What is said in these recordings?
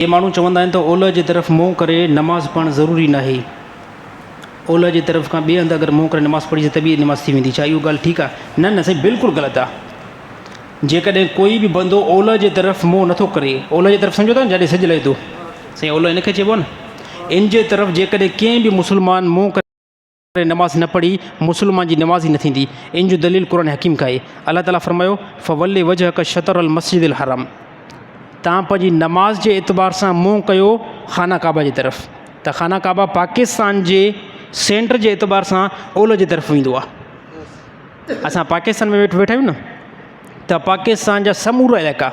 اهي ماڻهو چوندا آهن ته اولهه جي طرف منهن ڪري نماز پڙهڻ ضروري ناهي. اولهه جي طرف کان ٻئي هنڌ اگر منهن ڪري نماز پڙهجي ته به نماز ٿي ويندي. ڇا اهو ڳالهه ٺيڪ آهي؟ نه نه سائين بلڪل غلط آهي. جيڪڏهن ڪوئي به بندو اولهه جي طرف منهن نٿو ڪري، اولهه جي طرف سمجهو ٿا نه جڏهن سج لهي ٿو. سائين اولهه ان کي چئبو آهي نه. ان جي طرف جيڪڏهن ڪنهن به مسلمان منهن ڪري. ڪري نماز نه پڙهي مسلمان جي نماز ئي نه ٿيندي ان جو دليل قرآن حڪيم کان آهي الله تعالي فرمايو فول وجهک شطر المسجد الحرام تان پنهنجي نماز جي اعتبار سان منهن ڪيو خانه ڪعبه جي طرف ته خانه ڪعبه پاڪستان جي سينٽر جي اعتبار سان اولهه جي طرف ويندو آهي اسان پاڪستان ۾ ويٺا آهيون نه ته پاڪستان جا سمورا علائقا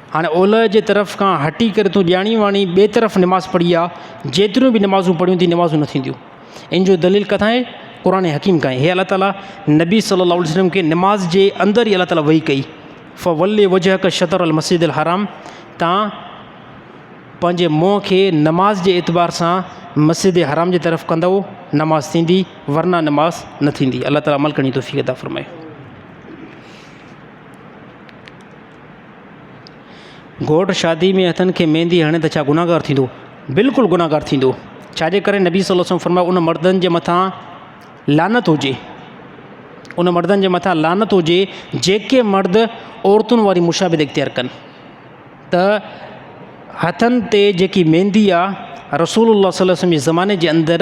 هاڻي اولهه جي طرف کان هٽي ڪري تون ڄاڻي واڻي ٻئي طرف نماز پڙهي آ، جيتريون به نمازون پڙهيون ٿي نمازون نه ٿينديون. ان جو دليل ڪٿان آهي؟ قرآن حڪيم کان آهي. هي الله تعاليٰ نبي صلّي اللّٰه عليه وسلّم کي نماز جي اندر ئي الله تعاليٰ وحي ڪئي، فولّ وجهڪ شطر المسجد الحرام تان پنهنجي منهن کي نماز جي اعتبار سان مسجد حرام جي طرف ڪندؤ نماز ٿيندي ورنه نماز نه ٿيندي. الله تعاليٰ عمل ڪرڻ جي توفيق عطا فرمائي. گهوٽ شادي ۾ هٿن کي ميندي هڻي ته ڇا گناهگار ٿيندو؟ بلڪل گناهگار ٿيندو. ڇا جي ڪري نبي صلّي الله عليه وسلّم فرمايو ان مردن جي مٿان لعنت هجي ان مردن جي مٿان لعنت هجي جيڪي مرد عورتن واري مشابهت اختيار ڪن ته هٿن تي جيڪي ميندي آهي رسول الله صلّي الله عليه وسلّم جي زماني جي اندر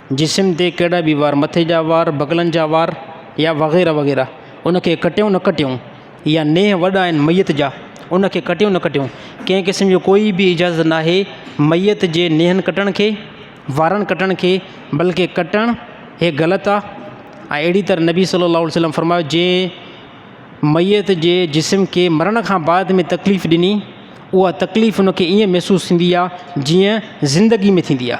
جسم تي ڪهڙا به وار، مٿي جا وار، بغلن جا وار يا وغيره وغيره، ان کي ڪٽيون نه ڪٽيون يا نيهه وڏا آهن ميت جا، ان کي ڪٽيون نه ڪٽيون، ڪنهن قسم جو ڪوئي به اجازت ناهي ميت جي نيهن ڪٽڻ کي، وارن ڪٽڻ کي، بلڪه ڪٽڻ هي غلط آ ۽ اهڙي طرح نبي صلّي اللّٰه عليه وسلّم فرمايو جنهن ميت جي جسم کي مرڻ کان بعد ۾ تڪليف ڏني اها تڪليف ان کي ائين محسوس ٿيندي آ جيئن زندگي ۾ ٿيندي آ.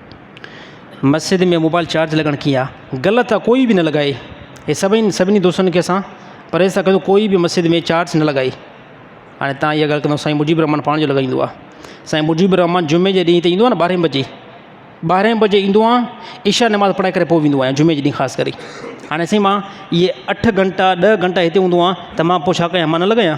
مسجد ۾ موبائل چارج لڳڻ ڪي آ غلط آ ڪوئي بي نه لڳائي ھي سڀئين سڀني دوستن کي اسان پرھيز ٿا ڪيون ڪوئي بي مسجد ۾ چارج نه لڳائي ھاڻي تان اھا ڳالھ ڪندو سائين مجيب الرحمان پاڻ جو لڳائيندو آ سائين مجيب الرحمان جمعي جي ڏينھن ھتي ايندو آ ٻارھي بجي ٻارھي بجي ايندو آ عشاء نماز پڙھائي ڪري پوء ويندو آھيان جمعي جي ڏينھن خاص ڪري ھاڻي سائين ماڻ اھي اٺ گھنٽا ڏھ گھنٽا ھتي ھوندو آ ته مان پوء ڇا ڪيان مان نه لڳايان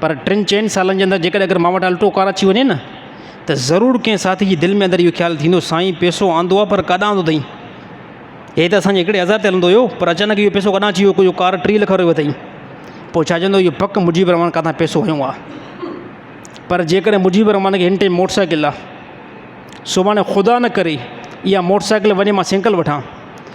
پر ٽن چئن سالن جي اندر جيڪڏهن اگر مان وٽ الٽو ڪار اچي وڃي نه ته ضرور ڪنهن ساٿي جي دل ۾ اندر اهو خيال ٿيندو سائين پيسو آندو آهي پر ڪاڏانهن آندو اٿئي؟ هي ته اسان جي هڪڙي هزار تي هلندو هيو پر اچانڪ اهو پيسو ڪاڏانهن اچي ويو جو ڪار ٽيهه لک وارو اٿئي؟ پوء ڇا چوندو اهو پڪ مجيب الرحمان ڪاٿان پيسو هنيو آهي. پر جيڪڏهن مجيب الرحمان کي هن ٽيم موٽر سائيڪل آهي سڀاڻي خدا نه ڪري اها موٽر سائيڪل وڃي مان سينڪل وٺان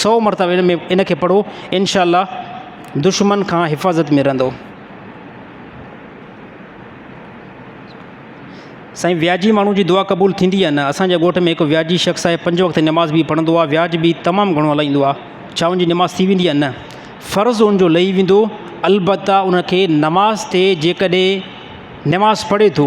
سئو مرتبا ان ۾ ان کي پڙهو انشاء الله دشمن کان حفاظت ۾ رهندو. سائين وياجي ماڻهو جي دعا قبول ٿيندي يا نه اسان جي ڳوٺ ۾ هڪ وياجي شخص آهي پنج وقت نماز به پڙهندو آهي وياج به تمام گهڻو هلائيندو آهي ڇا ان جي نماز ٿي ويندي يا نه فرض ان جو لهي ويندو البته ان کي نماز تي جيڪڏهن نماز پڙهي ٿو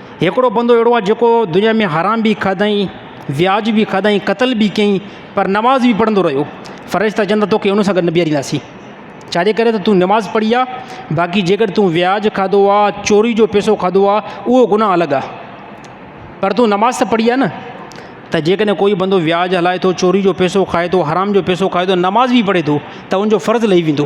هڪڙو بندو اهڙو آهي جيڪو دنيا ۾ حرام به کاڌائين، وياج به کاڌائين، قتل به ڪيائين پر نماز به پڙهندو رهيو. فرشتا چون ٿا توکي ان سان گڏ نه بيهارينداسين. ڇاجي ڪري ته تون نماز پڙهي آ، باقي جيڪڏهن تون وياج کاڌو آ، چوري جو پيسو کاڌو آ، اهو گناهه الڳ آ. پر تون نماز ته پڙهي آ نه. ته جيڪڏهن ڪوئي بندو وياج هلائي ٿو، چوري جو پيسو کائي ٿو، حرام جو پيسو کائي ٿو، نماز به پڙهي ٿو ته ان جو فرض لهي ويندو.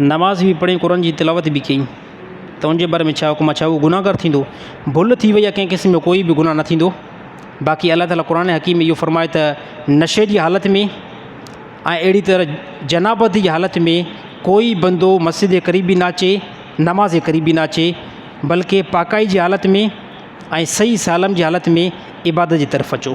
نماز به پڙهين قرآن جي تلاوت به ڪيئين ته ان جي باري ۾ ڇا حڪم آهي ڇا هو گنهگار ٿيندو ڀل ٿي وئي يا ڪنهن قسم جو ڪوئي به گناهه نه ٿيندو باقي الله تعالٰي قرآن حڪيم ۾ اهو فرمائي ته نشي جي حالت ۾ ۽ اهڙي طرح جنابت جي حالت ۾ ڪوئي بندو مسجد جي قريب به نه اچي نماز جي قريب به نه اچي بلڪه پاڪائي جي حالت ۾ ۽ صحيح سالم جي حالت ۾ عبادت جي طرف اچو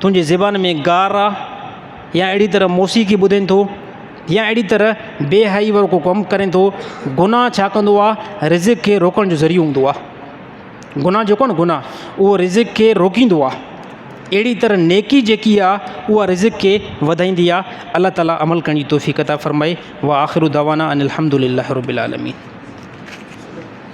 تنهنجي زبان ۾ گار آ يا اهڙي طرح موسيقي ٻڌين ٿو يا اهڙي طرح بي حيائي وارو ڪو ڪم ڪرين ٿو گناهه ڇا ڪندو آ رزق کي روڪڻ جو ذريعو هوندو آ گناهه جيڪو آ نه گناهه اهو رزق کي روڪيندو آ اهڙي طرح نيڪي جيڪي آ اها رزق کي وڌائيندي آ الله تعالي عمل ڪرڻ جي توفيق عطا فرمائي واخر دعوانا ان الحمد لله رب العالمين